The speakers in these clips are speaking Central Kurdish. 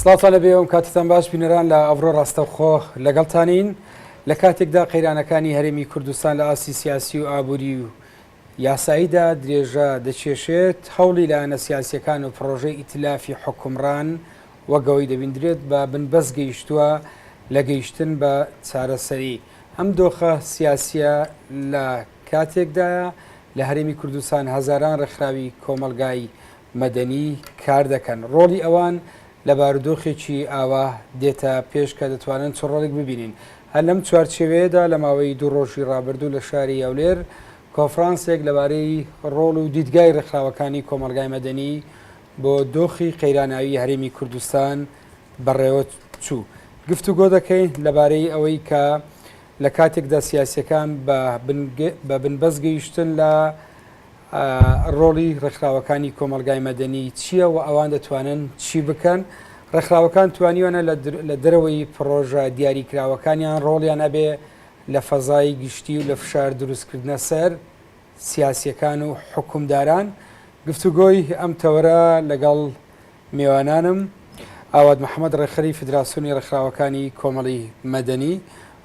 سڵاتانە بێوم کاتتان باش بینەران لە ئەڤرۆ ڕاستەوخۆ لەگەڵتانین لە کاتێکدا قەیرانەکانی هەرێمی کوردستان لە ئاسی سیاسی و ئابووری و یاساییدا درێژە دەچێشێت هەوڵی لایەنە سیاسیەکان و پرۆژەی ئیتلافی حکومڕان وەگەوەی دەبیندرێت بە بنبەست گەیشتووە لە گەیشتن بە چارەسەری ئەم دۆخە سیاسیە لە کاتێکدایە لە هەرێمی کوردستان هەزاران ڕێکخراوی کۆمەلگایی مەدەنی کار دەکەن، ڕۆڵی ئەوان لە بارودۆخێکی ئاوا دێتە پێش کە دەتوانن چ ڕۆڵێک ببینین، هەر لەم چوارچێوەیەدا لە ماوەی دوو ڕۆژی ڕابردوو لە شاری هەولێر کۆنفرانسێک لەبارەی ڕۆڵ و دیدگای ڕێکخراوەکانی کۆمەڵگای مەدەنی بۆ دۆخی قەیراناوی هەرێمی کوردستان بەڕێوە چوو گفتوگۆ دەکەین لەبارەی ئەوەی کە لە کاتێکدا سیاسیەکان بە بنبەست گەیشتن لە ڕۆڵی ڕێکخراوەکانی کۆمەڵگای مەدەنی چییە و ئەوان دەتوانن چی بکەن؟ ڕێکخراوەکان توانیوانە لە دەرەوەی پڕۆژە دیاریکراوەکانیان ڕۆڵیان هەبێ لە فەزای گشتی و لە فشار دروستکردنە سەر سیاسییەکان و حوکمداران. گفتوگۆی ئەم تەوەرە لەگەڵ. میوانانم، ئاوات محەمەد ڕێکخەری فیدراسیۆنی ڕێکخراوەکانی کۆمەڵی مەدەنی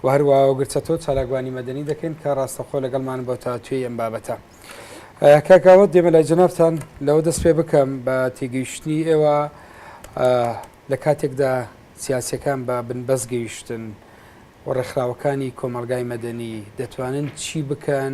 و هەروا گرد چەتۆ چالاکوانی مەدەنی دەکەین کە ڕاستەوخۆ لەگەڵمانن بۆ تاوتوێی ئەم بابەتە. کاک ئاوات دێمە لای جەنابتان لەوە دەست پێ بکەم بە تێگەیشتنی ئێوە لە کاتێکدا سیاسیەکان بە بنبەست گەیشتن و ڕێکخراوەکانی کۆمەڵگای مەدەنی دەتوانن چی بکەن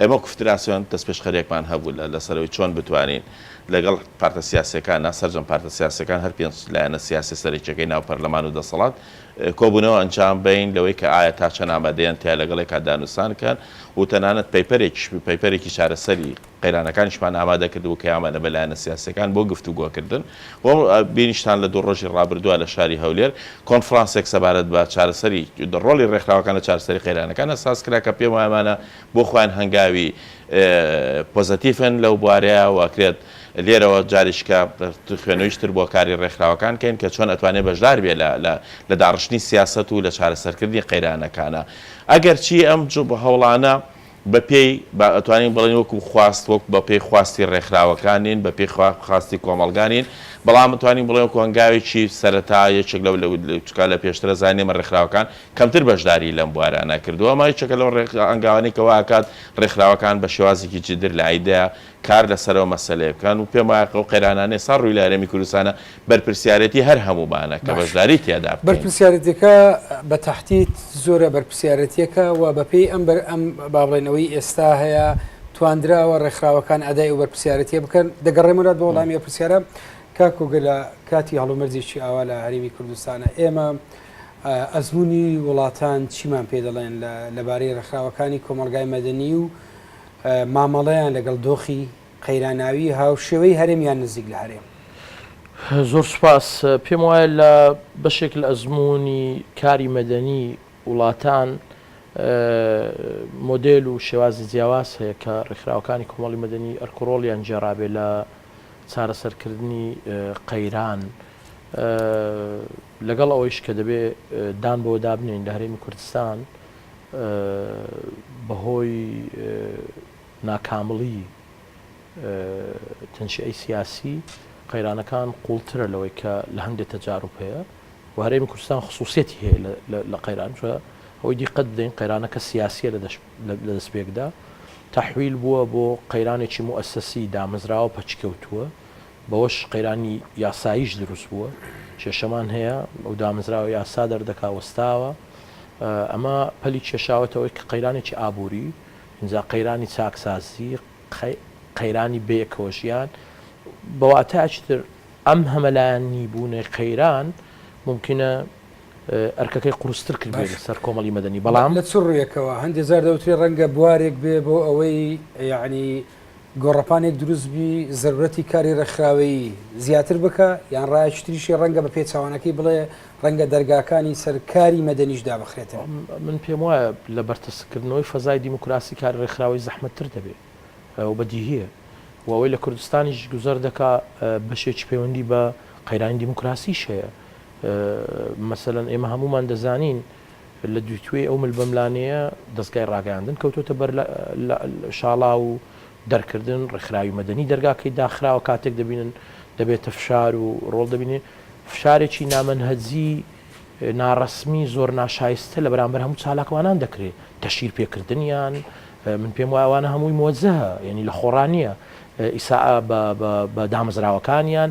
ئێمە وەکو فدراسیۆن دەستپێشخەریەکمان هەبوو لە لەسەرەوەی چۆن بتوانین لەگەڵ پارتە سیاسیەکان نا سەرجەم پارتە سیاسیەکان هەر پێنج لایەنە سیاسیە سەرەکیەکەی ناو پەرلەمان و دەسەڵات کۆبونەوە ئەنجام بەین لەوەی کە ئایا تا چەند ئامادەیەن تیا لەگەڵ یەکا دانوسان کەن و تەنانەت پەیپەرێکیش پەیپەرێکی چارەسەری قەیرانەکانیشمان ئامادە کردبوو کە ئامانە بە لایەنە سیاسیەکان بۆ گفتوگۆکردن وەک بینیشتان لە دوو ڕۆژی ڕابردووە لە شاری هەولێر کۆنفڕانسێک سەبارەت بە چارەسەری ڕۆڵی ڕێکخراوەکان لە چارەسەری قەیرانەکان ە ساز کرا کە پێم وایە ئەمانە بۆ خۆیان هەنگاوی پۆزەتیفن لەو بوارەیا و ئەکرێت لێرەوە جاریشکە خوێنویش تر بۆ کاری ڕێکخراوەکان کەین کە چۆن ئەتوانێت بەشدار بێت لە لە لە داڕشتنی سیاسەت و لە چارەسەرکردنی قەیرانەکانە ئەگەرچی ئەم هەوڵانە بە پێی با ئەتوانین بڵێین وەکو خواست وەک بە پێی خواستی ڕێکخراوەکان نین، بە پێی خوا خواستی کۆمەڵگا نین، بەڵام ئەتوانین بڵێین وەکو هەنگاوێکی سەرەتا یەکێک لەو لە چونکە لە پێشتر ئەزانین ئێمە ڕێکخراوەکان کەمتر بەشداریی لەم بوارانە کردووە، ئەمە یەکێکە لەو ڕێک هەنگاوانەی کە وا ئەکات ڕێکخراوەکان بە شێوازێکی جددر لە ئایدە کار لەسەرەوە مەسەلەیە بکەن و پێم وایە ئەو قەیرانانەی ئێستا ڕووی لە هەرێمی کوردستانە بەرپرسیارێتی هەر هەموومانە کە باشە بەشداری تیادا بکەین. بەرپرسیارێتیەکە بە تەحدید زۆرە بەرپرسیارێتیەکە و بە پێی ئەم بەر ئەم با بڵێین ئەوەی ئێستا هەیە تواندراوە ڕێکخراوەکان ئەدای ئەو بەرپرسیارێتیە بکەن. دەگەڕێمەوە بۆ وەڵامی ئەو پرسیارە کاک کۆگە لە کاتی هەڵومەرجێکی ئاوا لە هەرێمی کوردستانە ئێمە ئە ئەزموونی وڵاتان چیمان پێ دەڵێن لە لەبارەی ڕێکخراوەکانی کۆمەڵگای مەدەنی و مامەڵەیان لەگەڵ دۆخی قەیراناویی هاوشێوەی هەرێم یان نزیک لە هەرێم. زۆر سوپاس. پێم وایە لە بەشێک لە ئەزموونی کاری مەدەنیی وڵاتان مۆدێل و شێوازی جیاواز هەیە کە ڕێکخراوەکانی کۆمەڵی مەدەنی ئەرک و ڕۆڵیان گێڕابێ لە چارەسەرکردنی قەیران. لەگەڵ ئەوەیش کە دەبێ دان بەوەدا بنێین لە هەرێمی کوردستان، بەهۆی ناکامڵی تەنشیەی سیاسی قەیرانەکان قوڵترە لەوەی کە لە هەندێک تەجاروب هەیە و هەرێمی کوردستان خصوصیەتی هەیە لە قەیران چە ئەوەی دیقەت بدەین قەیرانەکە سیاسیە لە دەست پێکدا تحویل بووە بۆ قەیرانێکی موسسی دامەزراوە پەچکەوتووە بەوەش قەیرانی یاساییش دروست بووە، کێشەمان هەیە، ئەو دامەزراوە یاسا دەردەکا وەستاوە، ئەمە پەلی کێشاوەتەوە کە قەیرانێکی ئابووری، ئینجا قەیرانی چاکسازی، قەیرانی بەیەکەوەژیان، بە واتایەکی تر ئەم هەمەلایەنیبوونەی قەیران مومکینە ئەرکەکەی قورستر کردبێت لەسەر کۆمەڵی مەدەنی، بەڵام. لە چ ڕوویەکەوە؟ هەندێ جار دەوترێ ڕەنگە بوارێک بێ بۆ ئەوەی یەعنی. گۆڕەپانێک دروست بی زەرورەتی کاری ڕێکخراوەیی زیاتر بکە یان ڕایەکی تریشی ڕەنگە بە پێچوانەکەی بڵێ ڕەنگە دەرگاکانی سەر کاری مەدەنیش دابخرێتەوە. من پێم وایە لە بەرتەسککردنەوەی فەزای دیموکراسی کاری ڕێکخراوەیی زەحمەتتر دەبێ و بەدیهییە و ئەوەی لە کوردستانیش گوزەر دەکا بەشێکی پەیوەندی بە قەیرانی دیموکراسیش هەیە. مەسەلەن ئێمە هەموومان دەزانین، لە دووتوێی ئەو ملبەملانێیە دەزگای ڕاگەیاندن کەوتۆتە بەر شاڵاو و دەرکردن، ڕێکخراوی مەدەنی دەرگاکەی داخراوە کاتێک دەبینن دەبێتە فشار و ڕۆڵ دەبینێ فشارێکی نامەنهەجی ناڕەسمی زۆر ناشایستە لە بەرامبەر هەموو چالاکوانان دەکرێت تەشیر پێکردنیان من پێم وایوانە هەمووی مۆزەهە یعنی لە خۆڕانیە ئیسا بە دامەزراوەکانیان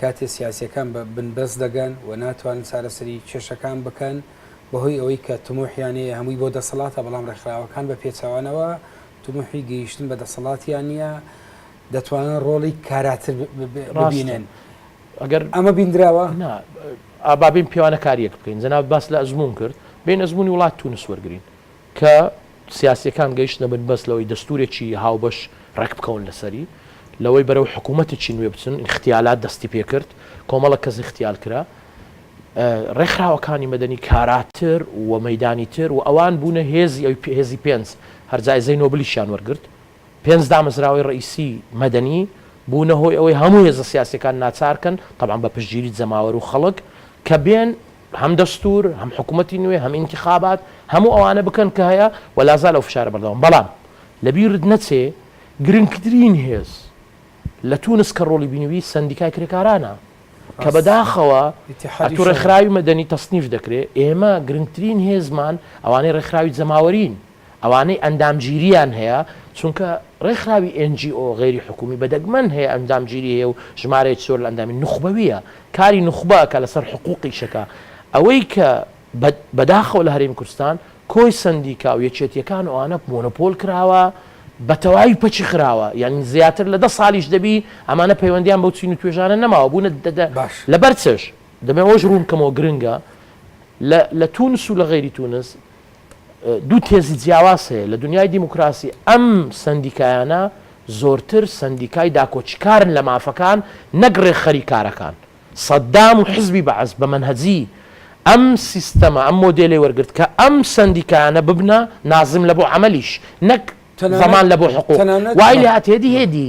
کاتێ سیاسیەکان بە بنبەست دەگەن و ناتوانن چارەسەری کێشەکان بکەن بەهۆی ئەوەی کە تموحیان هەیە هەمووی بۆ دەسەڵاتە بەڵام ڕێکخراوەکان بە پێچەوانەوە تموحی گەیشتن بە دەسەڵاتیان نییە دەتوانن ڕۆڵی کاراتر ببینن ئەگەر ئەمە بیندراوە ئابابین پیاوانە کاریەک بکەین جەناب باس لە ئەزمون کرد بین ئەزمونی وڵات تونس وەرگین کە سیاسیەکان گەیشتنە بن بەس لەوەی دەستورێکی هاوبەش ڕێکبکەون لەسەری، لەوەی بەرەو حکومەتێکی نوێ بچن، ئیغتیالات دەستی پێکرد، کۆمەڵە کەس ئیغتیال کرا، ڕێکخراوەکانی مەدەنی کاراتر و مەیدانی تر و ئەوان بونە هێزی ئەوی هێزی پێنج، هەر جایزەی نۆبلیشیان وەرگرت، پێنج دامەزراوەی ڕەئیسی مەدەنی بونە هۆی ئەوەی هەمو هێزە سیاسیەکان ناچارکەن، تەبعەن بە پشتگیری جەماوەرو خەڵک، کە بێن هەم دەستور، هەم حکومەتی نوێ، هەم ئینتیخابات، هەموو ئەوانە بکەن کە هەیە و لازال ئەو فشارە بەردەوام. بەڵام لە بیرت نەچێ گرنگترین هێز لە تونس کە ڕۆڵی بینیوی سەندیکای کرێکارانە کە بە داخەوە ئەتو ڕێکخراوی مەدەنی تەسنیف دەکرێ، ئێمە گرنگترین هێزمان ئەوانەی ڕێکخراوی جەماوەرین. ئەوانەی ئەندامگیرییان هەیە، چونکە ڕێکخراوی ئێن جی ئۆ غەیری حکوومی بە دەگمەن هەیە ئەندامگیری هەیە و ژمارەیەکی زۆر لە ئەندامی، نوخبەوییە، کاری نوخبە ئەکا لەسەر حقووق ئیشەکە. ئەوەی کە بە بە داخەوە لە هەرێمی کوردستان کۆی سەندیکا و یەکێتییەکان و ئەوانە مۆنۆپۆل کراوە، بە تەواوی پەکی خراوە، یانی زیاتر لە دە ساڵیش دەبی ئەمانە پەیوەندییان بەو چین و توێژانە نەماوە، بوونە دە دە باش. لەبەر چش؟ دەمەوێ ئەوەش ڕوون بکەمەوە گرنگە لە لە توونس و لە غەیری توونس، دوو تێزی جیاواز هەیە لە دنیای دیموکراسی، ئەم سەندیکایانە زۆرتر سەندیکای داکۆکیکارن لە مافەکان نەک ڕێکخەری کارەکان. سەدام و حزبی بەعس بە مەنهەجی ئەم سیستەمە، ئەم مۆدێلەی وەرگرت کە ئەم سەندیکایانە ببنە نازم لە بۆ عەمەلیش نەک تەنانەت زەمان لە بۆ حقوق. تەنانەت وای لێ هات هێدی هێدی.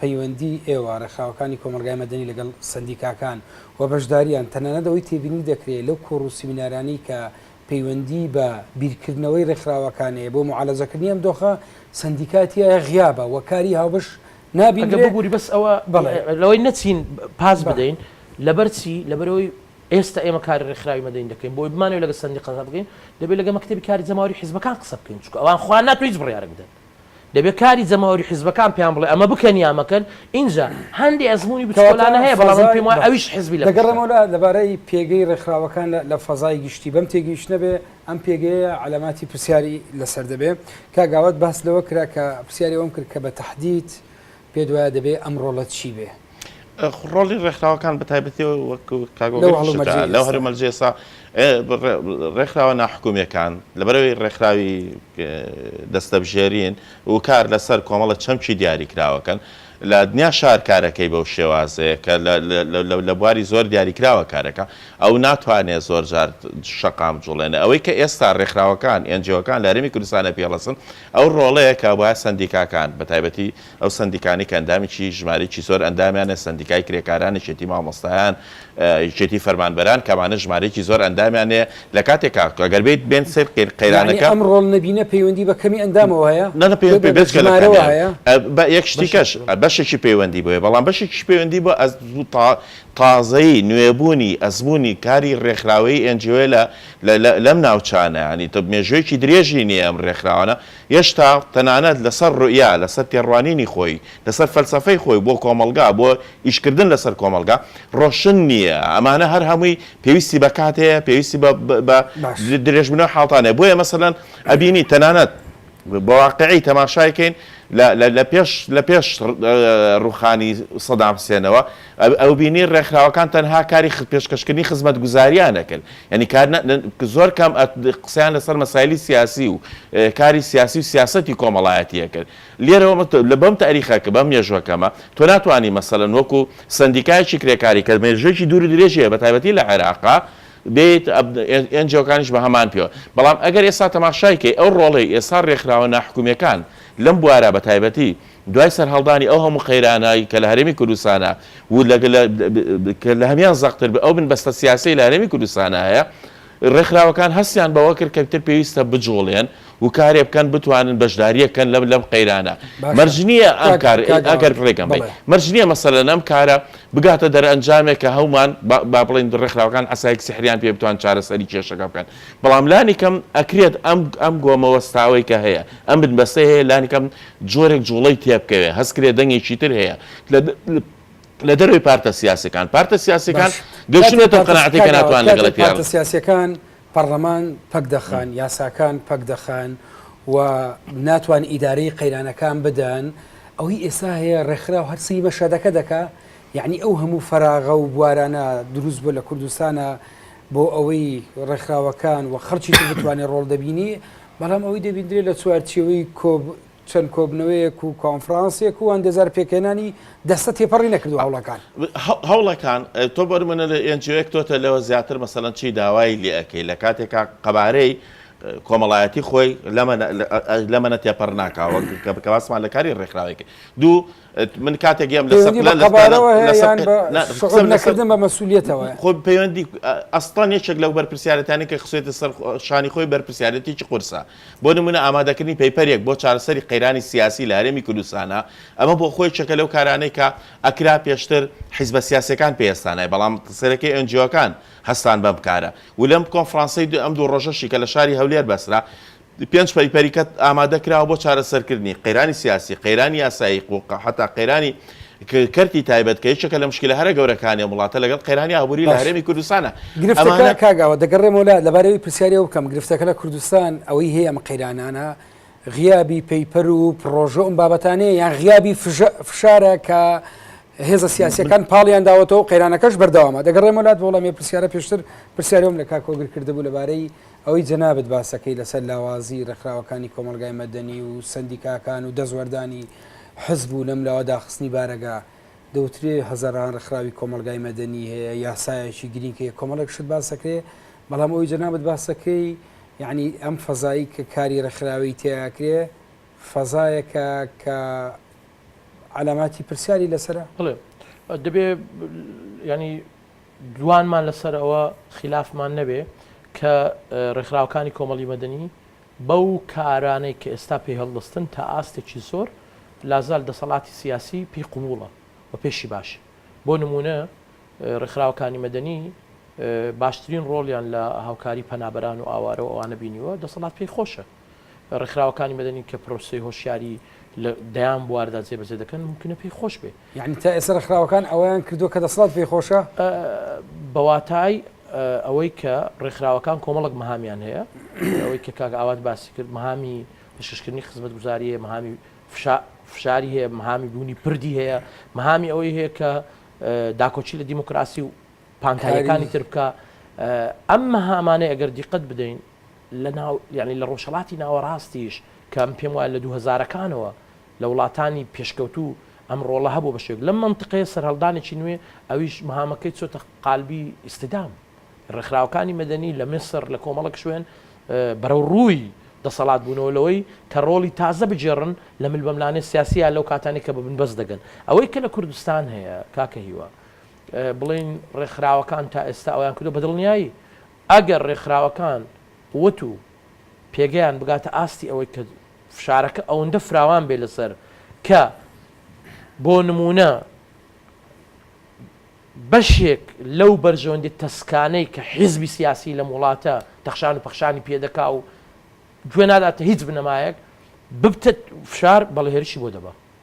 پەیوەندیی ئێوە، ڕێکخراوەکانی کۆمەڵگای مەدەنی لەگەڵ سەندیکاکان و بەشداریان، تەنانەت ئەوەی تێبینی دەکرێ لەو کۆڕ و سیمینارانەی کە پەیوەندیی بە بیرکردنەوەی ڕێکخراوەکان هەیە بۆ موعالەجەکردنی ئەم دۆخە، سەندیکای تیایە غیابە و کاری هاوبەش نابیندرێ. ئەگەر ببووری بەس ئەوە لەوەی نەچین پاس بدەین، لەبەر چی؟ لەبەر ئەوەی ئێستا ئێمە کاری ڕێکخراوی مەدەنی دەکەین، بۆ ئەوەی بمانەوێ لەگەڵ سەندیقا قسە بکەین، دەبێ لەگەڵ مەکتەبی کاری جەماوەریی حیزبەکان قسە بکەین، چونکە ئەوان خوا ناتوێ هیچ بڕیارێک بدەن. دەبێت کاری جەماوەری حیزبەکان پێیان بڵێ ئەمە بکەن یا مەکەن، ئینجا هەندێ ئەزموونی بچکۆلانە هەیە، بەڵام من پێم وایە ئەویش حیزبی لە پشتە. دەگەڕێمەوە لەبارەی پێگەی ڕێکخراوەکان لە فەزای گشتی، بەم تێگەیشتنە بێ ئەم پێگەیە عەلاماتی پرسیاری لەسەر دەبێ. کاک ئاوات باس لەوە کرا کە پرسیاری ئەوەم کرد کە بە تەحدید پێت وایە دەبێ ئەم ڕۆڵە چی بێ؟ ڕۆڵی ڕێکخراوەکان بەتایبەتی وەک لەو هەرو مەرجێسا ڕێکخراوە ناحکومیەکان لەبەرەوەی ڕێکخراوی دەستەبژێرین و کار لەسەر کۆمەڵە چەمکی دیاری کراوەکەن لە دنیا شار کارەکەی بەو شێوازەیە کە لە بواری زۆر دیاری کراوە کارەکە ئەو ناتوانێت زۆر جار شەقام جوڵێنە ئەوەی کە ئێستا ڕێکخراوەکان ئەنجەوەکان لە هەرمی کوردستانە پێڵەسن ئەو ڕۆڵەیە کە وایە سندیکاکان بە تایبەتی ئەو سەندیکانەی کە ئەندامێکی ژمارەیەکی زۆر ئەندامیان هەیە، سەندیکای کرێکاران، یەکێتی مامۆستایان، یەکێتی فەرمانبەران کە ئەمانە ژمارەیەکی زۆر ئەندامیان هەیە، لە کاتێکا گەر بێیت بێن سەیر قەیر قەیرانەکە. یەعنی ئەم ڕۆڵ نەبینە پەیوەندی بە کەمی ئەندامەوە هەیە؟ نا نا پەیوەندی بە بێجگە لە کەمی ئەندام بە یەک شتی کەش بەشێکی پەیوەندی بەوەیە بەڵام بەشێکیش پەیوەندی بە ئەز تا تازەیی نوێ بوونی ئەزموونی کاری ڕێکخراوەیی ئێن جی ئۆیە لە لە لەم ناوچانە یەعنی تە مێژوویەکی درێژی نیە ئەم ڕێکخراوانە هێشتا تەنانەت لەسەر روئیا، لەسەر تێڕوانینی خۆی، لەسەر فەلسەفەی خۆی بۆ کۆمەڵگا، بۆ ئیشکردن لەسەر کۆمەڵگا، رۆشن نییە. ئەمانە هەر هەمووی پێویستی بە کات هەیە، پێویستی بە بە باش. درێژبوونەوەی حاڵتان هەیە. بۆیە مەسەلەن ئەبینی تەنانەت بە واقیعی تەماشای کەین لە لە لە پێش لە پێش رووخانی سەدام حسێنەوە، ئەوبینی ڕێکخراوەکان تەنها کاری پێشکەشکردنی خزمەتگوزارییانە کرد، یانی کار زۆر کەم قسەیان لەسەر مەسایلی سیاسی و کاری سیاسی و سیاسەتی کۆمەڵایەتییە کرد. لێرەوە لە بەم تاریخە کە بەم مێژووە کەمە، تۆ ناتوانی مەسەلەن وەکو سەندیکایەکی کرێکاری کە مێژوویەکی دوور و درێژی هەیە بە تایبەتی لە عێراق، بێیت ئێنجیۆکانیش بە هەمان پێوە. بەڵام ئەگەر ئێستا تەماشای کەی ئەو ڕۆڵەی ئێستا ڕێکخراوە ناحکومییەکان لەم بوارە بە تایبەتی، دوای سەرهەڵدانی ئەو هەموو قەیرانای کە لە هەرێمی کوردستانا و کە لە هەمیان زەقتر بێ ئەو بنبەستە سیاسیەی لە هەرێمی کوردستانا هەیە ڕێکخراوەکان هەستیان بەوە کرد کە ئیتر پێویستە بجوڵێن و کارێ بکەن بتوانن بەشدارییەک کەن لەم لەم قەیرانە باشە مەرج نییە ئەم کاک کار ئێ کاک ئەگەر ئاوات ڕێگەم بەی بڵێ مەرج نییە مەسەلەن ئەم کارە بگاتە دەرئەنجامێک کە هەومان با با بڵێین ڕێکخراوەکان عەسایەک سیحریان پێ بتوان چارەسەری کێشەکە بکەن بەڵام لانی کەم ئەکرێت ئەم ئەم گۆمە وەستاوەی کە هەیە ئەم بنبەستەی هەیە لانی کەم جۆرێک جوڵەی تێبکەوێت، هەستکرێت دەنگێکی تر هەیە لە دەرەوەی پارتە سیاسەکان، پارتە سیاسەکان گەشتنێتە ئەو قەناعەتەی کە ناتوانن لەگەڵ پارتە سیاسەکان، پارتە سیاسەکان پەڕلەمان پەک دەخەن، یاساکان پەک دەخەن و ناتوان ئیدارەی قەیرانەکان بدەن، ئەوەی ئێستا هەیە ڕێکخراو هەر سەیری بە شەدەکە دەکا، یەعنی ئەو هەموو فەراغە و بوارانە دروست بووە لە کوردستانا بۆ ئەوەی ڕێکخراوەکان و خەڵکی تر بتوانێت ڕۆڵ دەبینی، بەڵام ئەوەی دەبیندرێت لە چوارچێوەی چەند کۆبنەوەیەک و کۆنفرانسێک و ئەندێزار پێکهێنانی دەستە تێپەڕی نەکردووە هەوڵەکان. هەوڵەکان تۆ بەرمنە لە ئێنجیۆیەک تۆتە لەوە زیاتر مەسەلەن چی داوای لێ ئەکەی لە کاتێکا قەبارەی کۆمەڵایەتی خۆی لەمە لەمەە تێپەڕ ناکا وەک کە بکە باسمان لە کاری ڕێکخراوێک دوو من کاتێک گێم لە سەر لە قەبارەوە هەیە یان بە سەقەت نەکردن بە مەسوولیتەوە خۆ پەیوەندی ئەستان یەکێک لەو بەرپرسیارەتانی کە خسێتە سەر شانی خۆی بەرپرسیارەتێکی قورسە بۆ نمونە ئامادەکردنی پەیپەرێک بۆ چارەسەری قەیرانی سیاسی لە هەرێمی کوردستانە ئەمە بۆ خۆی چەکە لەو کارانەی کە ئەکرا پێشتر حیزبە سیاسەکان پێستانای بەڵام سەرەکەی ئەنجیۆکان هەستان بەم کارە و لەم کۆنفرانسی ئەم دوو ڕۆژەشی کە لە شاری هەولێر بەسرا پێنج پەیپەری کەت ئامادە کراوە بۆ چارەسەرکردنی، قەیرانی سیاسی، قەیرانی یاسایی، قووقە، هەتا قەیرانی کەرتی تایبەت کە یەکێکە لە مشکلە هەرە گەورەکانی ئەم وڵاتە لەگەڵ قەیرانی ئابووری لە هەرێمی کوردستانە. گرفتەکە کاک ئاوات دەگەڕێمەوە لات، لەبارەی ئەوەی پرسیاری ئەوە بکەم، گرفتەکە لە کوردستان ئەوەی هەیە ئەم قەیرانانە غیابی پەیپەر و پڕۆژە و ئەم بابەتانەیە یان غیابی فشارە کە هێزە سیاسەکان پاڵیان داوەتەوە قەیرانەکەش بەردەوامە دەگەڕێمە لات بۆڵەمێ پرسیارە پێشتر پرسیارم لە کاکۆگر کردبوو لەبارەی ئەوەی جەنابت باسەکەی لەسەر لاوازی ڕێکخراوەکانی کۆمەڵگای مەدەنی و سەندیکاکان و دەستوەردانی حزب و لەم لاوە داخستنی بارەگا، دەوترێ هەزەران ڕێکخراوی کۆمەڵگای مەدەنی هەیە، یاسایەکی گرینگ هەیە، کۆمەڵێک شت باسەکرێ، بەڵام ئەوەی جەنابت باسەکەی یەعنی ئەم فەزایی کە کاری ڕێکخراوەیی تێیا ئەکرێ فەزایەکە کە عەلاماتی پرسیاری لەسەرە؟ بەڵێ دەبێ یەعنی. دوانمان لەسەر ئەوە خیلافمان نەبێ کە ڕێکخراوەکانی کۆمەڵی مەدەنی بەو کارانەی کە ئێستا پێی هەڵدەستن تا ئاستێکی زۆر لازال دەسەڵاتی سیاسی پێی قبوڵە و پێشی باشە. بۆ نموونە ڕێکخراوەکانی مەدەنی باشترین ڕۆڵیان لە هاوکاری پەنابەران و ئاوارە و ئەوانە بینیوە، دەسەڵات پێی خۆشە. ڕێکخراوەکانی مەدەنی کە پرۆسەی هۆشیاری لە دەیان بواردا جێبەجێ دەکەن ممکنە پێی خۆش بێ یعنی تا ئێستا ڕێکخراوەکان ئەوەیان کردووە کە دەسەڵات پێی خۆشە بەواتای ئەوەی کە ڕێکخراوەکان کۆمەڵک مەهامیان هەیە ئەوەی کە کاک ئاوات باسی کرد مەهامی پێشکەشکردنی خزمەتگوزاریە مەهامی فشاری هەیە مەهامی بوونی پردی هەیە مەهامی ئەوەی هەیە کە داکۆچی لە دیموکراسی و پانتایەکانی تر بکە ئەم مەهامانەی ئەگەر دیقەت بدەین لە ناو یانی لە ڕۆژهەڵاتی ناوەڕاستیش کە من پێم وایە لە دوو هەزارەکانەوە لە وڵاتانی پێشکەوتوو ئەم ڕۆڵە هەبوو بە شێوەیەک لەم مەنتقەیە سەرهەڵدانێکی نوێ ئەویش مهامەکەی چۆتە قالبی ئیستدام ڕێکخراوەکانی مەدەنی لە میسر لە کۆمەڵێک شوێن بەرەو ڕووی دەسەڵات بوونەوە لەوەی کە ڕۆڵی تازە بگێڕن لە ململانێ سیاسییە لەو کاتانی کە بە بنبەست دەگەن ئەوەی کە لە کوردستان هەیە کاکە هیوا بڵێین ڕێکخراوەکان تا ئێستا ئەویان کردووە بە دڵنیایی ئەگەر ڕێکخراوەکان قوت و پێگەیان بگاتە ئاستی ئەوەی کە فشارەکە ئەوەندە فراوان بێت لەسەر کە بۆ نموونە بەشێک لەو بەرژەوەندی تەسکانەی کە حیزبی سیاسی لەم وڵاتە تەخشان و پەخشانی پێ دەکا و گوێ ناداتە هیچ بنەمایەک ببتە فشار بەڵێ هێرشی بۆ دەبا.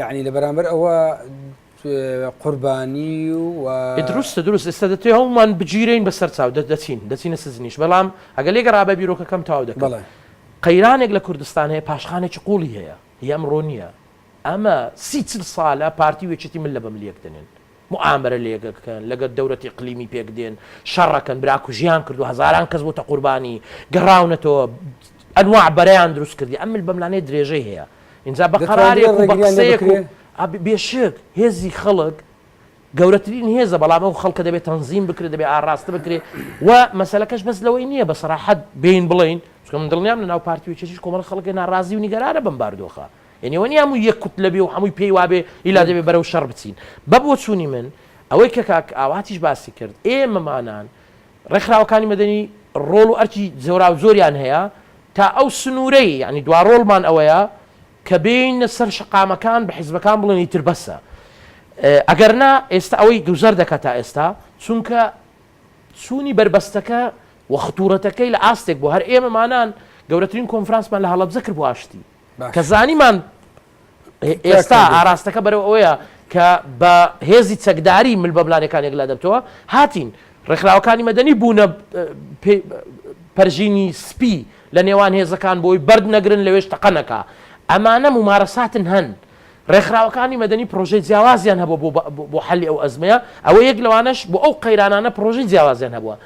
یەعنی لە بەرامبەر ئەوە قوربانی و. دروستە دروست ئێستا دەتوێ هەوڵمان بگیرێین بەسەر چاو دەچین دەچینە سجنیش بەڵام ئەگەر لێگە ڕابە بیرۆکەکەم تاو دەکەڵێ بەڵێ قەیرانێک لە کوردستان هەیە پاشخانێکی قوڵی هەیە هی ئەمڕۆ نییە ئەمە سی چل سالە پارتی و یەکێتی مل لە بە ملیەک دەنێن موئامەرە لەیەکەکەن لەگەر دەولەت اقلیمی پێک دێن شەڕەکەن برا کوژیان کردوە هەزاران کەس بوتە قوربانی گەڕاونەتەوە انواع بەرەیان دروست کردی ئەم مل بەملانێ درێژەی هەیە ئینجا بە قەرارێک و بە قسەیەک و ئەبی بێشک هێزی خەڵک گەورەترین هێزە بەڵام ئەو خەڵکە دەبێ تەنزیم بکرێ دەبێ ئاڕاستە بکرێ و مەسەلەکەش بەس لەوەی نیە بە سەراحەت بێین بڵێین چکە من دڵنیام لە ناو پارتی و یەکێتیش کۆمەڵە خەڵکێ ناڕازی و نیگەرانە بەم باردۆخە یەعنی ئەوە نییە هەموو یەک کوتلە بێ و هەمووی پێی وا بێ ئیلا دەبێ بەرەو شەڕ بچین. بە بۆچوونی من ئەوەی کە کاک ئاواتیش باسی کرد، ئێمەمانان ڕێکخراوەکانی مەدەنی ڕۆڵ و ئەرکی جۆراوجۆریان هەیە تا ئەو سنوورەی یەعنی دوا ڕۆڵمان ئەوەیە کە بێینە سەر شەقامەکان بە حیزبەکان بڵێن ئیتر بەسە ئەگەر نا ئێستا ئەوەی گوزەر دەکا تا ئێستا چونکە چوونی بەربەستەکە و خطوورەتەکەی لە ئاستێک بووە هەر ئێمەمانان گەورەترین کۆنفرانسمان لە هەڵەبجە کرد بۆ ئاشتی. کە زانیمان ئێستا ئاراستەکە بەرەو ئەوەیە کە بە هێزی چەکداری مل بە ملانەکان یەکلا دەبتەوە هاتین ڕێکخراوەکانی مەدەنی بوونە پەرژینی سپی لە نێوان هێزەکان بۆی بەرد نەگرن لەوێش تەقەنەکە ئەمانە ممارەساتن هەن ڕێکخراوەکانی مەدەنی پرۆژەی جیاوازیان هەبوو بۆ حەلی ئەو ئەزمەیە ئەوە یەک لەوانش بۆ ئەو قەیرانانە پرۆژەی جیاوازیان هەبووە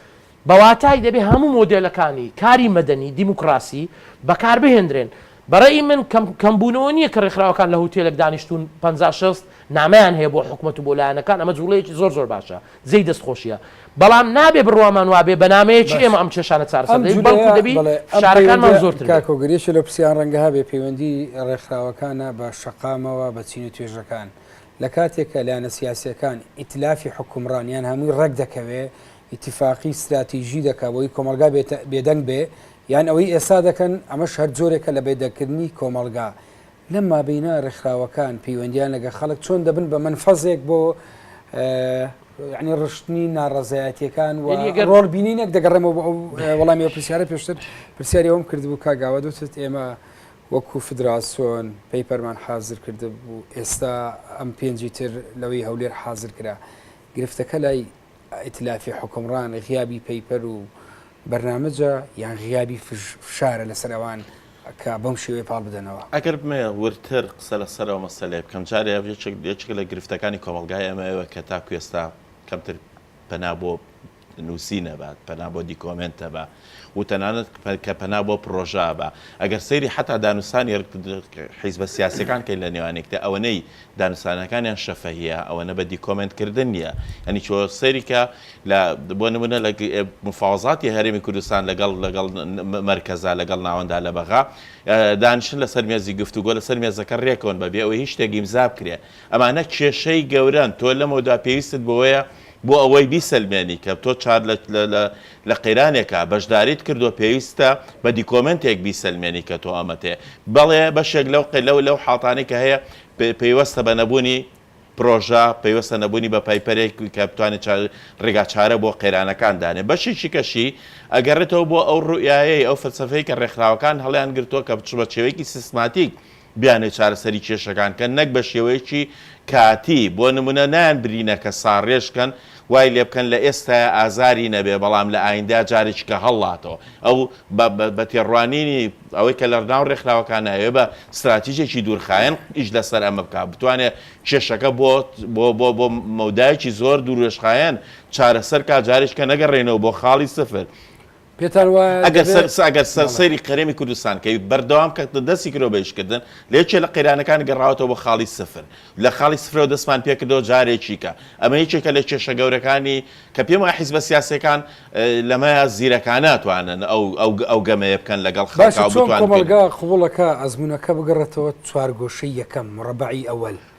بە واتای دەبێ هەموو مۆدێلەکانی کاری مەدەنی دیموکراسی بەکار بهێندرێن. بە رەئی من کەم کەم بوونەوە نییە کە رێکخراوەکان لە هوتێلێک دانیشتوون پەنجا شێست نامەیان هەیە بۆ حکومەت و بۆ لایەنەکان ئەمە جوڵەیەکی زۆر زۆر باشە جێی دەست خۆشیە بەڵام نابێ بڕوامان وابێ بە نامەیەکی ئێمە ئەم کێشانە چارەسەر دەبێت بەڵکو دەبی فشارەکانمان زۆرتر بێت. کاکۆ گرێ چلۆپسیان رەنگە هەبێ پەیوەندی رێکخراوەکانە بە شەقامەوە بە چین و توێژەکان. لە کاتێکا لایەنە سیاسیەکان ئیتلافی حوکمڕان یان هەمووی ڕێک دەکەوێ، ئیتیفاقی ستراتیژی دەکا بۆی کۆمەڵگا بێدەنگ بێ، یان ئەوەی ئێستا دەکەن ئەمەش هەر جۆرێکە لە بێدەنگکردنی کۆمەڵگا. لەم مابەینە ڕێکخراوەکان پەیوەندیان لەگە خەڵک چۆن دەبن بە مەنفەزێک بۆ ڕشتنی ناڕەزایەتیەکان و ڕۆڵ بینینێک دەگەڕێمەوە بۆ ئەو وەڵامی ئەو پرسیارە پێشتر پرسیاری ئەوم کردبوو کاگاوە دوتت ئێمە وەکو فدراسۆن پەیپەرمان حازر کردبوو ئێستا ئەم پێنجی تر لەوەی هەولێر حازر کرا گرفتەکە لای ئیتلافی حکمڕان غیابی پەیپەر و بەرنامەجە یان غیابی فشارە لەسەر ئەوان کە بەم شێوەیە پاڵ بدەنەوە. ئەگەر بمەوێ وردتر قسە لەسەر ئەو مەسەلەیە بکەم جارێ یەکێک لە گرفتەکانی کۆمەڵگای ئێمە ئەوەیە کە تاکو ئێستا کەمتر پەنا بۆ نووسینە بە، پەنا بۆ دیکۆمێنتە بە و تەنانەت کە پەنا بۆ پڕۆژە بە. ئەگەر سەیری حەتا دانوستانی حیزبە سیاسیەکان کەین لە نێوان یەکدی، ئەوەنەی دانوستانەکانیان شەفەهیە، ئەوەنە بە دیکۆمێنت کردن نیە. یانی چۆ سەیری کە لە بۆ نمونە لە مفاوەزاتی هەرێمی کوردستان لەگەڵ لەگەڵ مەرکەزا لەگەڵ ناوەندا لە بەغا دانیشن لەسەر مێزی گفتوگۆ لەسەر مێزەکە رێکەون بە بێ ئەوەی هیچ شتێک ئیمزا بکرێ. ئەمانە کێشەی گەورەن، تۆ لەمەودا پێویستت بەوەیە بۆ ئەوەی بیسەلمێنی کە تۆ چار لە لە لە قەیرانێکا بەشداریت کردووە پێویستە بە دیکۆمێنتێک بیسەلمێنی کە تۆ ئەمەت هەیە. بەڵێ بەشێک لەو قە لەو لەو حاڵتانەی کە هەیە پێ پەیوەستە بە نەبوونی پرۆژە، پەیوەستە نەبوونی بە پایپەرێک کە بتوانێت چا ڕێگا چارە بۆ قەیرانەکان دانێ. بەشێکی کەشی ئەگەڕێتەوە بۆ ئەو ڕوئیایەی، ئەو فەلسەفەی کە ڕێکخراوەکان هەڵیان گرتووە کە بچ بە چێوەیەکی سیستماتیک بیانوێ چارەسەری کێشەکان کەن نەک بە شێوەیەکی کاتی، بۆ نمونە نایان برینەکە ساڕێژ کەن وای لێ بکەن لە ئێستایا ئازاری نەبێ بەڵام لە ئایندە جارێکی کە هەڵاتەوە ئەو بە تێڕوانینی ئەوەی کە لەڕناو ڕێکخراوەکانە ئەوێ بە ستراتیژێکی دوورخایەن ئیش لەسەر ئەمە بکا بتوانێ کێشەکە بۆ بۆ بۆ بۆ مەودایەکی زۆر دوورێژخایەن چارەسەر کا جارێکی کە نەگەڕێنەوە بۆ خاڵی سفر پێتان وایە ئەگەر دەبێت سەر ئەگەر سەر بەڵێ. سەیری قەرێمی کوردستان کەی بەردەوام کە دەستی کرۆ بە ئیشکردن لە یەکێ لە قەیرانەکان گەڕاوەتەوە بۆ خاڵی سفر لە خاڵی سفرەوە دەستمان پێکردەوە جارێکی کە ئەمە یەکێکە لە کێشە گەورەکانی کە پێم وایە حیزبە سیاسیەکان اه، لەمەیە زیرەکانە ئەتوانن ئەو ئەو ئەو گەمەیە بکەن لەگەڵ باشە خەڵکا و چۆن بتوانن پێ کۆمەڵگا قبوڵەکا بگەڕێتەوە چوارگۆشەی یەکەم، مربعی اول،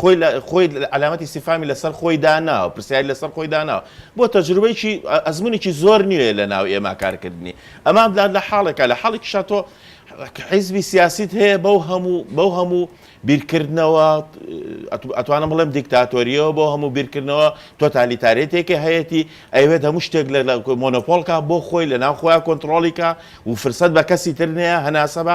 خۆی لە خۆی علامەتی استفهامی لەسەر خۆی داناوە پرسیاری لەسەر خۆی داناوە بۆ تەجروبەیەکی ئەزمونێکی زۆر نیوێ لە ناو ئێمە کارکردنی ئەمان بلاد لە حاڵێکە لە حاڵێکی شاتۆ حیزبی سیاسیت هەیە بەو هەموو بەو هەموو بیرکردنەوە ئەتوانم بڵێم دیکتاتۆریەوە بۆ هەموو بیرکردنەوە تۆتالیتارێتێکی هەیەی ئەوێت هەموو شتێک لە مۆنۆپۆلکە بۆ خۆی لە ناو خۆیان کۆنتترۆلیکە و فرسەت بە کەسی ترنەیە هەناسە بە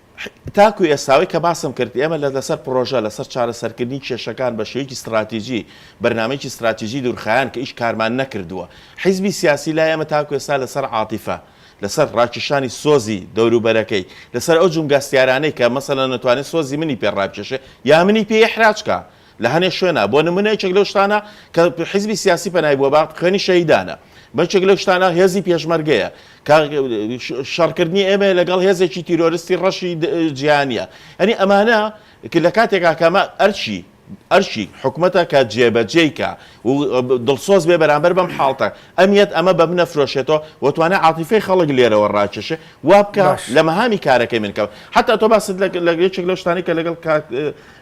تاکو ئێستا ئەوەی کە باسم کرد ئێمە لە لەسەر پرۆژە لەسەر چارەسەرکردنی کێشەکان بە شێوەیەکی ستڕاتیجی بەرنامەیەکی ستڕاتیجی دورخایەن کە ئیش کارمان نەکردووە حیزبی سیاسی لای ئێمە تاکو ئێستا لەسەر عاتیفە لەسەر ڕاکیشانی سۆزی دەوروبەرەکەی لەسەر ئەو جومگە هەستیارانەی کە مەسەلەن ئەتوانێ سۆزی منی پێ ڕابکێشێ یا منی پێ ئیحراج کا لە هەنێ شوێنا بۆ نمونە یەکێک لەو شتانە کە حیزبی سیاسی پەنای بووە بە خوێنی شەهیدانە بە یەکێک لەو شتانە هێزی پێشمەرگەیە کە شەڕکردنی ئێمە لەگەڵ هێزێکی تیرۆرستی ڕەشی جیهانیە ئەنی ئەمانە کە لە کاتێکا کەمە ئەرچی ئەرشی حکومەتە کە جێبەجێیکە و دڵسۆز بێ بەرامبەر بەم حاڵتە ئەمیت ئەمە بە منە فرۆشێتەوە وتوانە عاتیفی خەڵک لێرەوە ڕاکێشێ وا بکە لە مەهامی کارەکەی من کەەوە حتا تۆ باست لە یەکێک لەو شتانی کە لەگەڵ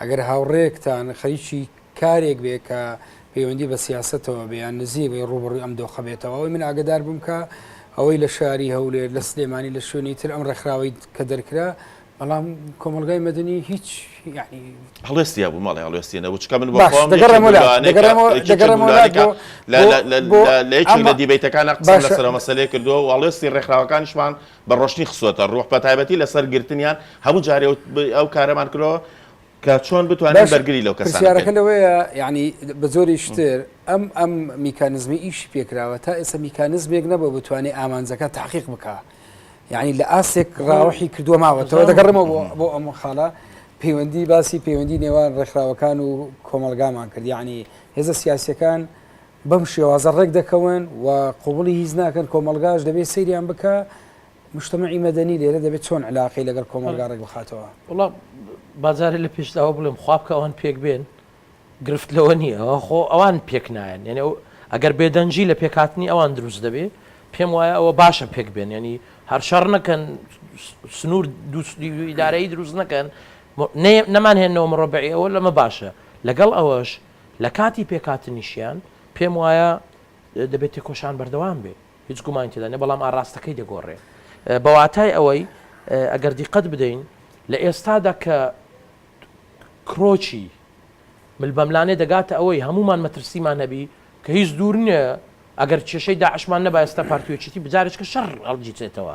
ئەگەر هاوڕێیەکتان خەریکی کارێک بێ کە پەیوەندی بە سیاسەتەوە بێ یان نزیک بێ ڕووبەڕووی ئەم دۆخە بێتەوە ئەوەی من ئاگدار بم کە ئەوەی لە شاری هەولێر لە سلێمانی لە شوێنی تر ئەم ڕێکخراوەی کە دەرکرا بەڵام کۆمەلگای مەدەنی هیچ هەڵێستیا بوو مەڵێ هەڵێستی نەبوو چکە من لە دیبیتەکان قسە لەسەر مەسلەیە کردووە و هەڵێستی ڕێکخراوەکانیشمان بە ڕۆشنی خستووەتە ڕووح بە تایبەتی لەسەر گرتنیان هەموو جارێ ئەو کارەمان کردەوە کە چۆن بتوانین بەرگری لەو کەسانە بکەین. پرسیارەکە لەوەیە یانی بە جۆری شتر ئەم ئەم میکانزمی ئیشی پێکراوە تا ئێستا میکانزمێک نەبوو بتوانێت ئامانجەکە تحقیق بکا یعنی لە ئاستێک ڕاوەحی کردووە ماوەتەوە دەگەڕمەوە بۆ ئەم خاڵە پەیوەندی باسی پەیوەندی نێوان ڕێکخراوەکان و کۆمەلگامان کرد یعنی هێزە سیاسەکان بەم شێوازە ڕێک دەکەون و قوبڵی هیچ ناکەن کۆمەلگاش دەبێت سەیریان بکە مشتمەعی مەدەنی لێرە دەبێت چۆن علاقی لەگەڵ کۆمەلگا ڕێک بخاتەوە وڵا بازارە لە پێشداوە بڵێم خوابکە ئەوان پێک بێن گرفت لەوە نییە ئەوە خۆ ئەوان پێک نایەن یعنی ئەو ئەگەر بێدەنگی لە پێکاتنی ئەوان دروست دەبێ پێم وایە ئەوە باشە پێک بێن ینی هەر شەڕ نەکەن سنوور دووسدیدارایی دروست نەکەن نەمان هێنەوە مڕۆبعی ئەوە لەمە باشە لەگەڵ ئەوەش لە کاتی پێکهاتنیشیان پێم وایە دەبێت تێکۆشان بەردەوام بێ هیچ گومانی تێدا نیە بەڵام ئاراستەکەی دەگۆڕێ بە واتای ئەوەی ئەگەر دیقەت بدەین لە ئێستادا کە کرۆچی ملبەملانێ دەگاتە ئەوەی هەمومان مەترسیمان هەبی کە هیچ دوور نیە ئەگەر کێشەی داعشمان نەبایستا پارتیۆچیتی بجارێکە شەڕ هەڵگیرێتەوە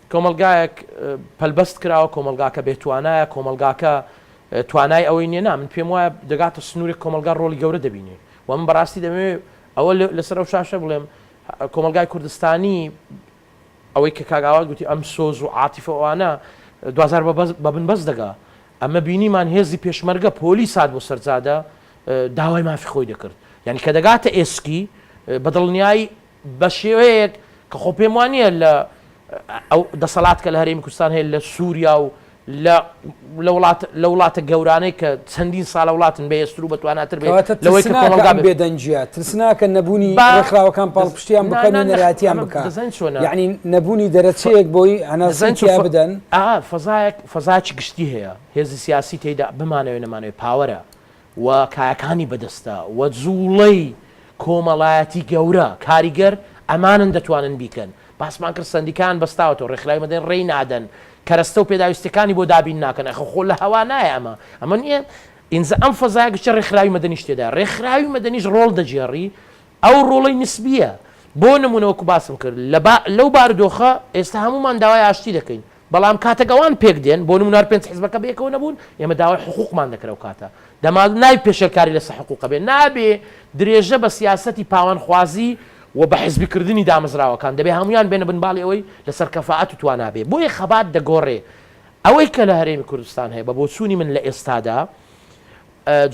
کۆمەڵگایەک پەلبەست کراوە، کۆمەڵگاکە بێ توانایە، کۆمەڵگاکە توانای ئەوەی نیە، نا من پێم وایە دەگاتە سنورێک کۆمەڵگا ڕۆڵی گەورە دەبینێ و من بەڕاستی دەمەوێ ئەوە لەسەر ئەو شاشە بڵێم کۆمەڵگای کوردستانی ئەوەی کە کاک ئاوات گوتی ئەم سۆز و عاتیفە ئەوانە دوجار بە بن بەست دەگا ئەمە بینیمان هێزی پێشمەرگە پۆلیس هات بۆ سەرجادە داوای مافی خۆی دەکرد یعنی کە دەگاتە ئێسکی بە دڵنیایی بە شێوەیەک کە خۆ پێم وا نییە لە ئەو دەسەڵات کە لە هەرێمی کوردستان هەیە لە سووریا و لە لە وڵات لە وڵاتە گەورانەی کە چەندین ساڵە وڵاتن بەهێزتر و بەتواناتر بێت کەواتە لەوەی کە ترسناکە کۆمەڵگا ئەم بێت بێدەنگییە ترسناکە نەبوونی با ڕێکخراوەکان دەز پاڵپشتیان نا بکەن نا و نەخ نەراتیان ئەمە بکا دەزانیت چۆنە یەعنی نەبوونی ف دەرەچەیەک بۆی هەناسەی دەزانیت چۆن تیا ف بدەن. ئا فەزایەک فەزایەکی گشتی هەیە هێزی سیاسی تێیدا بمانەوێ نەمانەوێ پاوەرە و کایەکانی بەدەستە و جوڵەی کۆمەڵایەتی گەورە کاریگەر ئەمانن دەتوانن بیکەن باسمان کرد سەندیکایان بەستاوەتەوە ڕێکخراوی مەدەنی ڕێی نادەن کەرەستە و پێداویستیەکانی بۆ دابین ناکەن ئەخە خۆ لە هەوا نایە ئەمە ئەمە نیە ئینجا ئەم فەزایە گشتە ڕێکخراوی مەدەنیش تێدایە ڕێکخراوی مەدەنیش ڕۆڵ دەگێڕی ئەو ڕۆڵەی نسبیە بۆ نمونە وەکو باسم کرد لە لەو بارودۆخە ئێستا هەموومان داوای ئاشتی دەکەین بەڵام کاتەک ئەوان پێک دێن، بۆ نموونە هەر پێنج حزبەکە بەیەکەوە نەبوون، ئێمە داوای حقووقمان دەکرد ئەو کاتە، دەما نابێ پێشێلکاری لەسەر حقووق بێ، نابێ درێژە بە سیاسەتی پاوانخوازی و بە حزبی کردنی دامەزراوەکان، دەبێ هەموویان بێنە بن باڵی ئەوەی لەسەر کەفائەت و توانا بێ، بۆیە خەبات دەگۆڕێ. ئەوەی کە لە هەرێمی کوردستان هەیە، بە بۆچوونی من لە ئێستادا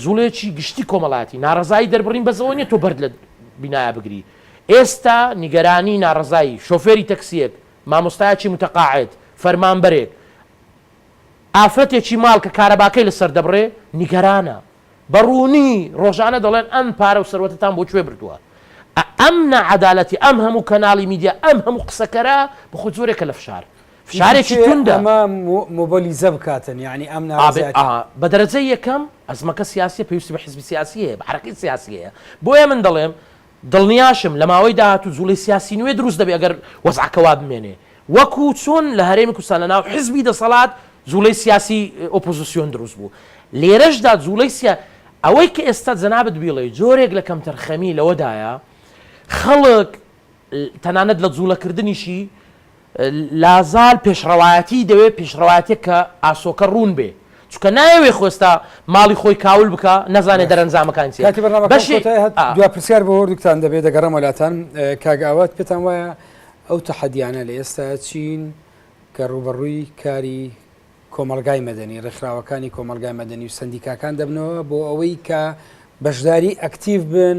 جووڵەیەکی گشتی کۆمەڵایەتی، ناڕەزایی دەربڕین بەس ئەوە نییە تۆ بەرد لە بینایە بگری، ئێستا نیگەرانی ناڕەزایی شۆفێری تەکسییەک، مامۆستایەکی متقاعد، فەرمانبەرێک، ئافرەتێکی ماڵ کە کارەباکەی لەسەر دەبڕێ، نیگەرانە. بە ڕوونی ڕۆژانە دەڵێن ئەم پارە و سەروەتەتان بۆ کوێ بردووە؟ ئەم ناعەدالەتی، ئەم هەموو کەناڵی میدیا، ئەم هەموو قسەکەرە، بەخۆ جۆرێکە لە فشار. فشارێکی توندە. ئیتر چێ ئەمە موبلیزە بکاتن؟ یانی ئەم ناڕەزایەتییە. ئا، بە دەرەجەی یەکەم ئەزمەکە سیاسییە، پێویستی بە حزبی سیاسی هەیە، بە حەرەکەی سیاسی هەیە. بۆیە من دەڵێم، دڵنیاشم لە ماوەی داهاتوو جوڵەی سیاسی نوێ دروست دەبێت ئەگەر وەزعەکە وا بمێنێ وەکو چۆن لە هەرێمی کوردستان لە ناو حزبی دەسەڵات جوڵەی سیاسی ئۆپۆزسیۆن دروست بوو لێرەشدا جوڵەی سیا ئەوەی کە ئێستا جەنابت بیڵێی جۆرێک لە کەمتەرخەمی لەوەدایە خەڵک تەنانەت لە جوڵەکردنیشی لازال پێشڕەوایەتی دەوێ پێشڕەوایەتێک کە ئاسۆکە ڕوون بێ چونکە نایەوێ خۆ ئێستا ماڵی خۆی کاول بکا نەزانێ دەرەنجامەکان چیە کاتی بەرنامەکەم بەشی کۆتایی هات ئا. دوا پرسیار بۆ هەردووکتان دەبێ دەگەڕێمەوە لاتان ئێ، کاک ئاوات پێتان وایە ئەو تەحەدیانە لە ئێستا چین کە ڕووبەڕووی کاری کۆمەڵگای مەدەنی ڕێکخراوەکانی کۆمەڵگای مەدەنی و سەندیکاکان دەبنەوە بۆ ئەوەی کە بەشداری ئەکتیڤ بن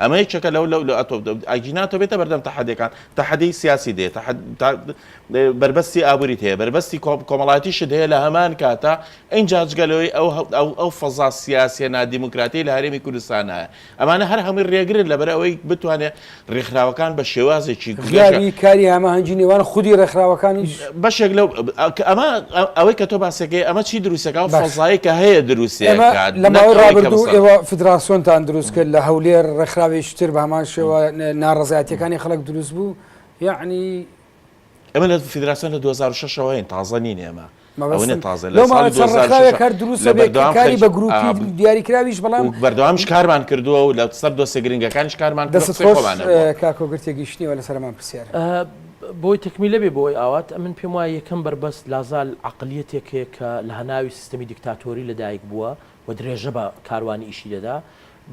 ئەمە یەکێکە لەو لەو لە ئەتۆ ئەگی ناتۆ بێتە بەردەم تەحەدەکان تەحەدەی سیاسی دێت بەربەستی ئابووریت هەیە بەربەستی کۆمەڵاتیشت هەیە لە هەمان کاتە ئەین جاجگەلەوەی ئەو ئەو فەزا سیاسیە نادیموکراتی لە هەرێمی کوردستانە ئەمانە هەر هەمووی ڕێگرن لەبەر ئەوەی بتوانێت ڕێکخراوەکان بە شێوازێکی گوێری کاری هەماهەنگی نێوان خودی ڕێکخراوەکانیش بەشێک لەو کە ئەمە ئەوەی کە تۆ باسەکەی ئەمە چی دروستەکە و فەزایی کە هەیە دروستەکە لە ماوەی ڕابردوو ئێوە فدراسیۆنتان دروست کرد لە هەولێر ڕێکخراوێکی تر بە هەمان شێوە ناڕزایەتەکانی خەڵک دروست بوو یعنی ئەمە لە فدراسیۆن لە 2006ەوە هەین تازە نین ئێمە کاری بە گروپی دیاریکراویش بەڵام بەردەوامش کارمان کردووە و لە سەر دۆسێ گرنگەکانش کارمان دەست کاکۆگرتێ گەشتنیەوە لەسەرمان پرسیار بۆی تەکمیلە بێ بۆی ئاوات ئەمن پێم وایە یەکەم بەربەست لازال عەقلیەتێک هەیە کە لە هەناوی سیستەمی دیکتاتۆری لە دایک بووە و درێژە بە کاروانی ئیشی دەدا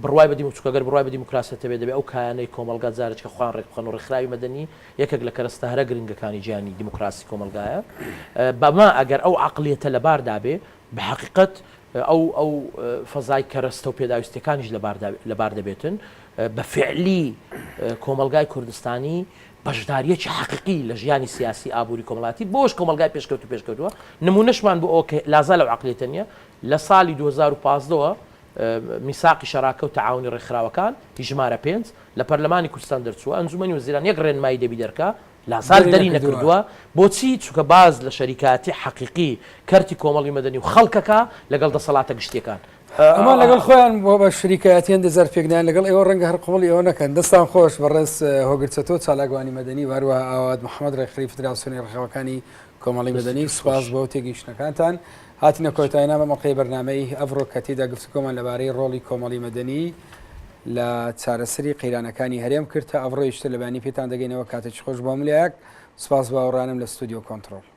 بڕوای بە دیمو چوکە گەر بڕوای بە دیموکراسیەتە بێ دەبێ ئەو کایانەی کۆمەڵگا جارێچکە خۆیان ڕێک بخەن و ڕێکخراوی مەدەنی یەکێک لە کەرەستە هەرە گرنگەکانی جیهانی دیموکراسی کۆمەڵگایە بە ما ئەگەر ئەو عەقلیەتە لە بار دا بێ بە هەقیقەت ئەو ئەو فەزای کەرەستە و پێداویستیەکانیش لە بار دا لە بار دەبێتن بە فێعلی کۆمەڵگای کوردستانی بەشدارییەکی حەقیقی لە ژیانی سیاسی، ئابووری، کۆمەڵایەتی بۆش کۆمەڵگای پێشکەوتوو پێشکەوتووە، نموونەشمان بۆ ئەوە کە لازا لەو عەقڵیەتە نییە، لە ساڵی دوو هەزار و پازدە وە میساقی شەراکە و تەعاونی ڕێکخراوەکان، ی ژمارە پێنج، لە پەرلەمانی کوردستان دەرچووە، ئەنجوومەنی وەزیران یەک ڕێنمایی دەبی دەرکا، لازا دەری نەکردووە، بۆچی؟ چونکە باس لە شەریکایەتی حەقیقی کەرتی کۆمەڵی مەدەنی و خەڵکەکا لەگەڵ دەسەڵاتە گشتییەکان، ئەمان لەگەڵ خۆیان بۆ بە شریکایەتیان دەزار پێکدان لەگەڵ ئێوە ڕەنگە هەر قوڵی ئەوە نەکەن دەستان خۆش بەڕێز هۆگرچەتۆ چالاکوانی مەدەنی واروە ئاوات محەممەد ڕێکخری فدراسیۆنی ڕخەوەکانی کۆمەڵی مەدەنی سوپاس بۆ تێگەیشتنەکانتان هاتینە کۆتای نامە مەڵقەی بەرنمەی ئەڤڕۆ کە تێدا گفتوگۆمان لەبارەی ڕۆڵی کۆمەڵی مەدەنی لە چارەسری قەیرانەکانی هەرێم کرد تا ئەڤڕۆیشتە لەبانی پێتان دەگەینەوە کاتێکی خۆش بۆ ملایەک سپاس باوەڕانم لە ستودیو کۆنتترۆل